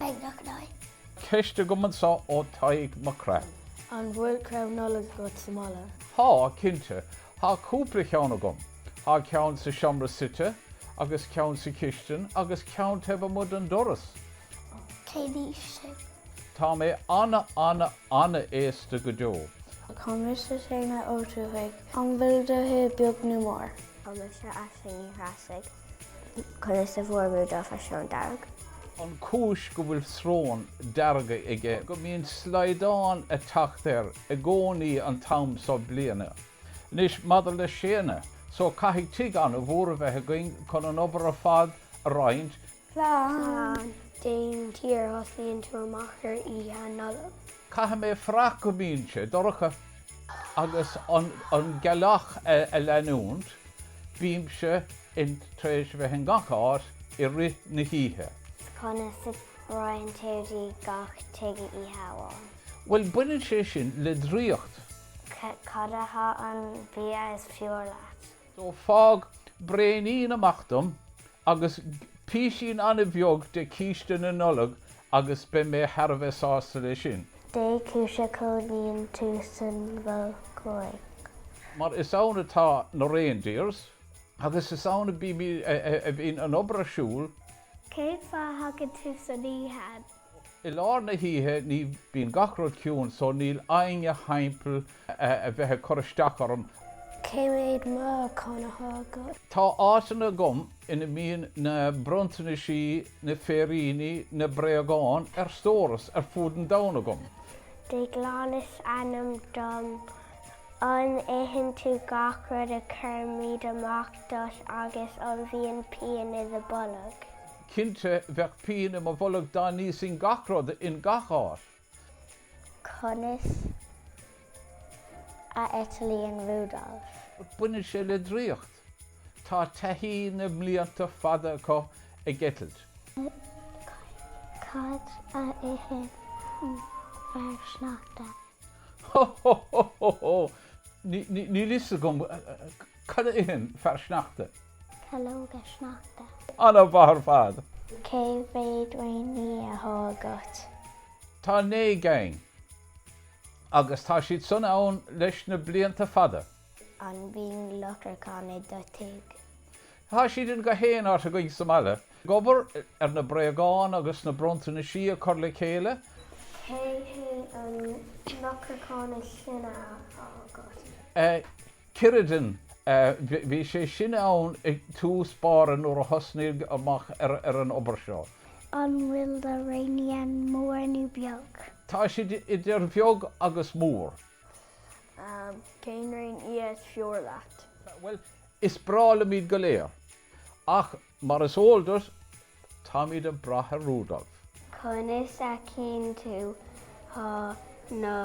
Beidh nach in aghaidh. Ceist agam anso ó Tadhg Mac Craith. An bhfuil crann Nollag agat sa mbaile? Tá, cinnte. Tá cúpla ceann agam. Tá ceann sa seomra suite, agus ceann sa chistin, agus ceann taobh amuigh den doras. Cén aois tú? Tá mé ana, ana, ana aosta go deo. Is mise Séanna Ó Tuathaigh. An bhfuil do thigh beag nó mór? Is mise Aisling Ní Threasaigh. Conas a bhfuair Rudolf a shrón dearg? an chúis go bhfuil srón dearg aige go mbíonn slaghdán ag teacht air i gcónaí an t-am so bliana. Anois, maidir le Séanna so, caithfidh tigh an-mhór a bheith againn chun an obair ar fad a roinnt. Slán. Dén tír a thosnaíonn tú amach ar Oíche Nollag. Caithfidh mé fuireach go mbíonn sé dorcha agus an gealach a leanúint, bímse in tar éis a bheith in gach áit i rith na hoíche. 'S conas a fhaigheann tú dtí gach tigh oíche amháin? Bhuel, baineann sé sin le draíocht. Cad atá an bia is fearr leat? So fág braonín amach dom agus písín an-bheag de chíste na Nollag agus beidh mé thar a bheith sásta leis sin. Dé cúis a chónaíonn tú sa Mhol Thuaidh? Mar is ann atá na reindeers. Agus is ann a b- a bhíonn an obair ar siúl. Cén fáth a thagann tú san oíche? I lár na hoíche ní bíonn gach rud ciúin so níl éinne thimpeall a bheith ag cur isteach orm. Cé mhéad meáchan athá agat? Tá áiteanna agam ina mbíonn na bronntanaisí, na féiríní, na bréagáin ar stóras ar fud an domhain agam. Déaglán is ainm dom. An itheann tú gach rud a chuirimid amach duit agus an bhíonn pian i do bolg? Cinnte, bheadh pian i mo bholg dá n-íosfainn gach rud in gach áit. Conas a eitlíonn Rudolph? Baineann sé le draíocht. Tá taithí na mblianta fada acu ag eitilt. Cad a itheann fear sneachta? Ho ho ho ho ho! Níl fhios agam cad a itheann fear sneachta. Calóga Sneachta. An-mhaith ar fad! Cé mhéad réinfhia athá agat? Tá naoi gcinn. Agus tá siad san ann leis na blianta fada. An mbíonn lupracán i do tigh? Tá siad in go haon áit againn sa mbaile. Ag obair ar na bréagáin agus na bronntanaisí a chur le chéile. Cé hé an lupracán is sine athá agat? Cerridin. Bhí sé sin ann i dtús báire nuair a thosnaíodh amach ar an obair seo. An bhfuil do réinfhianna mór nó beag? Tá siad idir bheag agus mhór. Cén réinfhia is fearr leat? Bhuel, is breá liom iad go léir. Ach Mar is eol duit, táimid ag brath ar Rudolf. Conas a fheiceann tú na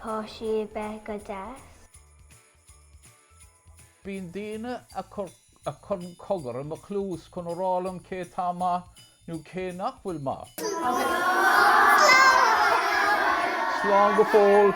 páistí a bheith go deas? Bíonn daoine a chuireann cogar i mo chluas chun a rá liom cé atá maith nó cé nach bhfuil maith. Slán go fóill!